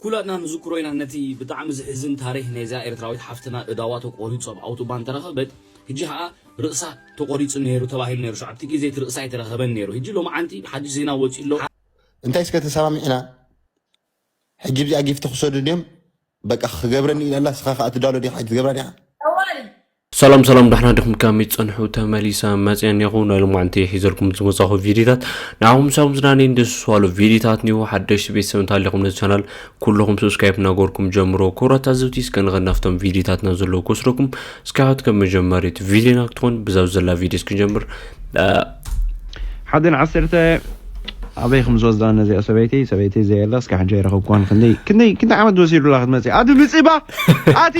ኩላትና ንዝክሮ ኢና ነቲ ብጣዕሚ ዝሕዝን ታሪክ ናይዛ ኤርትራዊት ሓፍትና እዳዋ ተቆሪጹ ኣብ ኣውቶባን ተረከበት ህጂ ከኣ ርእሳ ተቆሪጹ ነይሩ ተባሂሉ ነይሩ ሸውዓተ ግዜ እቲ ርእሳ ኣይተረከበን ነይሩ ህጂ ሎምዓንቲ ሓድሽ ዜና ወጺኡ ኣሎ እንታይ እስከ ተሰማሚዕና ሕጂ ብዚኣ ጊፍቲ ክሰዱ እንድዮም በቃ ክገብረኒ ኢላ ኣላ እስኻ ከኣ ትዳሎ ዲኻ ኣይትገብራ ዲኻ። እዋይ ሰላም ሰላም ዳሕና ድኹም ከመይ ትጸንሑ ተመሊሰ መጽየ ኔኹ ናይ ሎማዕንቲ ሒዘልኩም ዝመጻኹ ቪድዮታት ንዓኹም ሳብ ዝናኔን ደስ ዝዋሉ ቪድዮታት ኒኹ ሓደሽቲ ቤተሰብ እንተሃሊኹም ነዚ ቻናል ኩልኹም ሰብስክራይብ እናገበርኩም ጀምሮ ክብራት ኣዘብቲ እስከ ንኸድ ናብቶም ቪድዮታትና ዘለዉ ክወስደኩም እስከ ሕት ከም መጀመሪት ቪድዮና ክትኾን ብዛብ ዘላ ቪድዮ እስኪ ንጀምር ሓደን ዓሰርተ ኣበይ ከም ዝወስዳ ነዚኣ ሰበይቲ ሰበይቲ ዘየለ እስከ ሕጂ ኣይረኸብኩዋን ክንደይ ክንደይ ክንደይ ዓመት ወሲዱላ ክትመጽእ ኣቲ ምጽባ ኣቲ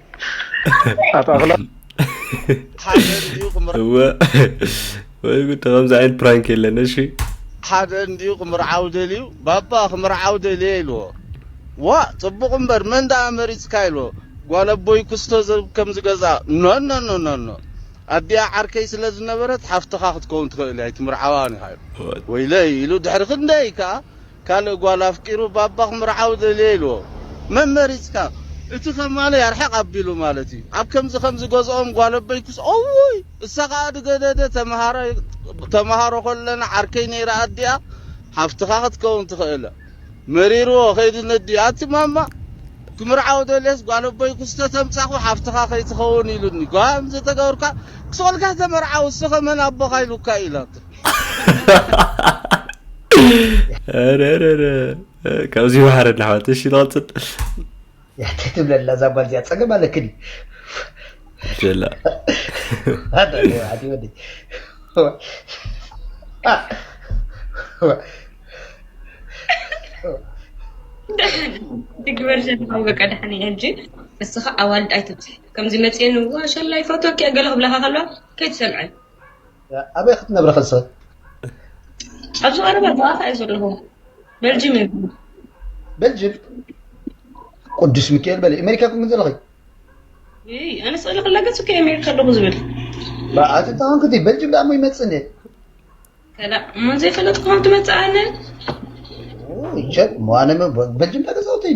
እወ ወይ ጉድ ከምዚ ዓይነት ፕራንክ የለን እሺ ሓደ እንድዩ ክምርዓው ደልዩ ባባ ክምርዓው ደልየ ኢልዎ ዋእ ጽቡቕ እምበር መን ደኣ መሪጽካ ኢልዎ ጓል ኣቦይ ክስቶ ዘብ ከምዚ ገዛ ኖኖኖኖኖ ኣዲኣ ዓርከይ ስለ ዝነበረት ሓፍትኻ ክትከውን ትኽእል እያ ኣይትምርዓዋን ኢኻ ኢሉ ወይለይ ኢሉ ድሕሪ ክንደይ ከኣ ካልእ ጓል ኣፍቂሩ ባባ ክምርዓው ደልየ ኢልዎ መመሪጽካ እቲ ከማለይ ኣርሕቅ ኣቢሉ ማለት እዩ ኣብ ከምዚ ከምዚ ገዝኦም ጓል ኣቦይ ክስ እውይ እሳ ከኣ ድገደደ ተመሃራይ ተመሃሮ ከለና ዓርከይ ነይራ ኣዲኣ ሓፍትካ ክትከውን ትክእለ መሪርዎ ከይዱ ነዲኡ ኣቲ ማማ ክምርዓው ደልየስ ጓል ኣቦይ ክስ ተተምጻኩ ሓፍትካ ከይትከውን ኢሉኒ ጓም ዘተገብርካ ክስ ወልካ ተመርዓው እሱ ከ መን ኣቦካ ኢሉካ ኢላቶ ካብዚ ባሕሪ እናሕዋት እሺ ንቐፅል ያተ ትብለላ እዛ ጓል እዚኣ ፀገም ኣለክን ጀላ ግበርሸን በቃ ድሓን እየ ሕጂ ንስኻ ኣዋልድ ኣይትብፅሕ ከምዚ መፅአን ዋ ሸላይ ፎቶ ክያ ገለ ክብላካ ከለዋ ከይትሰምዐን ኣበይ ክትነብሪ ከሰ ኣብዚ ቀረባ ኣርባዕተ እዩ ዘለኹ በልጅም እዩ በልጅም ቅዱስ ሚካኤል በለ ኣሜሪካ ኩን ዘለኺ ኣነ ስእሊ ክለገፅ እኮ ኣሜሪካ ኣለኹ ዝብል በዓቲ ተኾንክቲ በልጅም ደኣ ሞ ይመፅእ እንደ ከላ እሞ ዘይፈለጥ ክኾን ትመፅእ ኣነ ሸጥ ሞ ኣነ በልጅም ዳገዛውተይ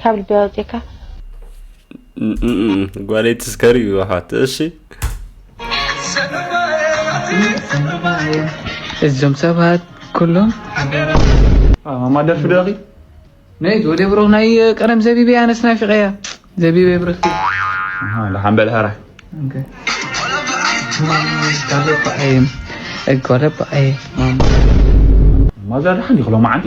ካብ ልቢ ኣውፅካ ጓለይ ትስከር እዩ ኣሓት እሺ እዞም ሰባት ኩሎም ማደርፊ ደኺ ናይ ወደ ብሩኽ ናይ ቀደም ዘቢብ እያ ኣነስ ናፊቐ እያ ዘቢብ ብርኽ ሓምበል ሃራ ማዛ ደሓን ይኽሎ መዓንቲ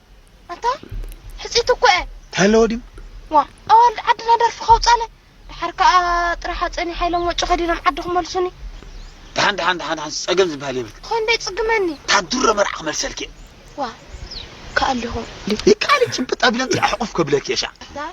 ኣንታ ሕጽይቲ እኮ እየ እንታይ ኣለዎ ድዩ ዋእ ኣዋልድ ዓድና ደርፊ ከውጻለ ድሓር ከኣ ጥራሕ ኣጸኒሓ ኢሎም ወጪ ከዲኖም ዓዲ ክመልሱኒ ድሓን ድሓን ድሓን ድሓን ጸገም ዝበሃል የብልክን ኾይኑ ዶ ይጽግመኒ እታ ድሮ መርዓ ክመልሰልኪ እየ ዋእ ይከኣል ዲኹም ይከኣል እዩ ጭብጥ ኣቢለ እንተ ሕቑፍ ከብለኪ እየ ሻዕ ኣታ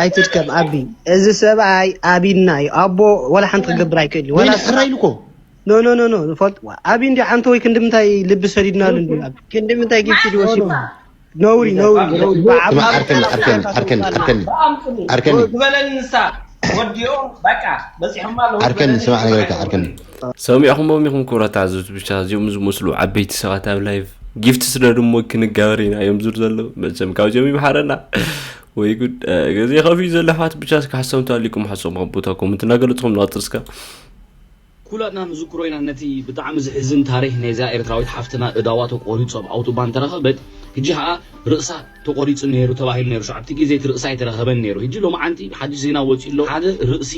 ኣይትድከም ኣቢ እዚ ሰብኣይ ኣቢና እዩ ኣቦ ዋላ ሓንቲ ክገብር ኣይክእል እዩ ኖ ኖ ኖ ኖ ፈልጥ ኣቢ እንዲ ሓንቲ ወይ ክንዲ ምንታይ ልቢ ሰዲድናሉ እንዲ ክንዲ ምንታይ ጊፍቲ ድወሲድና ነውሪ ነውሪ ነውሪ ብዓብ ስማ ዓርከኒ ዓርከኒ ዓርከኒ ዓርከኒ ዓርከኒ ዝበለኒ ንሳ ወዲኦ በቃ በፂሖማ ኣለዉ ዓርከኒ ዝበለኒ ስማዕ ነገረካ ይሰማዓኒ ዓርከኒ ሰሚዕኹሞም ኢኹም ክብረት ዓዘብቲ ብቻ እዚኦም ዝመስሉ ዓበይቲ ሰባት ኣብ ላይቭ ጊፍቲ ስደዱ እሞ ክንጋበር ኢና እዮም ዝር ዘለዉ መቸም ካብዚኦም ይምሓረና ወይ ጉድ እ፣ ግዜ ከፍዩ ዘሎ ኣሕዋት ብቻ እስከ ሓሰምቱ ኣሊኩም ሓሶም ኣብ ቦታ ኮመንት እናገለፅኹም ንቐፅል እስከ ኩላትና ንዝክሮ ኢና ነቲ ብጣዕሚ ዝሕዝን ታሪክ ናይዛ ኤርትራዊት ሓፍትና እዳዋ ተቆሪጹ ኣብ ኣውቶባን እንተረከበት ህጂ ከኣ ርእሳ ተቆሪጹ ኔሩ ተባሂሉ ኔሩ ሸውዓተ ግዜ እቲ ርእሳ ኣይተረከበን ኔሩ ህጂ ሎምዓንቲ ሓድሽ ዜና ወጺኡ ኣሎ ሓደ ርእሲ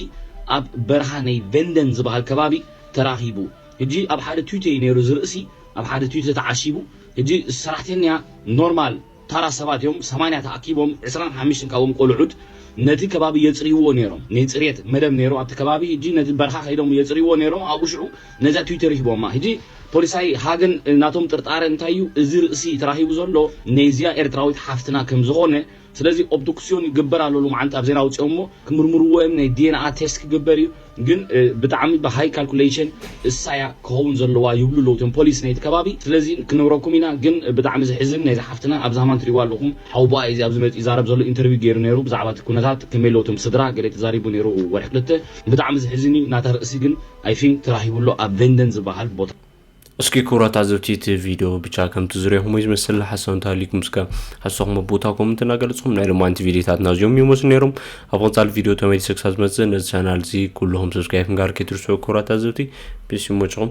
ኣብ በረካ ናይ ቨንደን ዝባሃል ከባቢ ተራኪቡ ህጂ ኣብ ሓደ ቱቴ ዩ ኔሩ እዚ ርእሲ ኣብ ሓደ ቱቴ ተዓሺቡ ህጂ ሰራሕተኛ ኖርማል ታራ ሰባት እዮም ሰማንያ ተኣኪቦም ዕስራን ሓምሽትን ካብኦም ቆሉዑት ነቲ ከባቢ የጽርይዎ ኔሮም ነይ ጽርየት መደብ ኔሩ ኣብቲ ከባቢ ህጂ ነቲ በርኻ ከይዶም የጽርይዎ ኔሮም ኣብኡ ሽዑ ነዛ ትዊተር ሂቦማ ህጂ ፖሊሳይ ሃገን ናቶም ጥርጣረ እንታይ እዩ እዚ ርእሲ ተራኪቡ ዘሎ ነይዚኣ ኤርትራዊት ሓፍትና ከም ዝኮነ ስለዚ ኦብዱክስዮን ይግበር ኣሎ ሎምዓንቲ ኣብ ዜና ኣውጺኦሞ ክምርምርዎ እዮም ነይ ዲኤንኣ ቴስት ክግበር እዩ ግን ብጣዕሚ ብሃይ ካልኩለይሽን እሳያ ክኸውን ዘለዋ ይብሉ ኣለው እቶም ፖሊስ ናይቲ ከባቢ ስለዚ ክንብረኩም ኢና ግን ብጣዕሚ ዝሕዝን ናይዛ ሓፍትና ኣብ ዛማን ትሪእዋ ኣለኹም ሓውቦኣ ኢዚ ኣብዚ መጺኡ ይዛረብ ዘሎ ኢንተርቪው ገይሩ ነይሩ ብዛዕባ እቲ ኩነታት ከመይ ኣለው እቶም ስድራ ገለ ተዛሪቡ ነይሩ ወርሒ ክልተ ብጣዕሚ ዝሕዝን እዩ ናታ ርእሲ ግን i think ተራሂቡ ኣሎ ኣብ ቨንደን ዝባሃል ቦታ። እስኪ ክብራት ኣዘብቲ እቲ ቪድዮ ብቻ ከምቲ ዝርኹም ወይ ዝመስል ሓሳብ እንተሃልዩኩም እስከ ሓሳኹም ኣብ ቦታ ኮመንት እናገለጽኩም ናይ ሎማንቲ ቪድዮታትና እዚኦም ይመስሉ ነይሮም ኣብ ቐጻሊ ቪድዮ ተመሊሰ ክሳብ ዝመጽእ ነዚ ቻናል እዚ ኩልኹም ሰብስክራይብ ምግባር ከይትርስዑ ክብራት ኣዘብቲ ፒስ ይመችኹም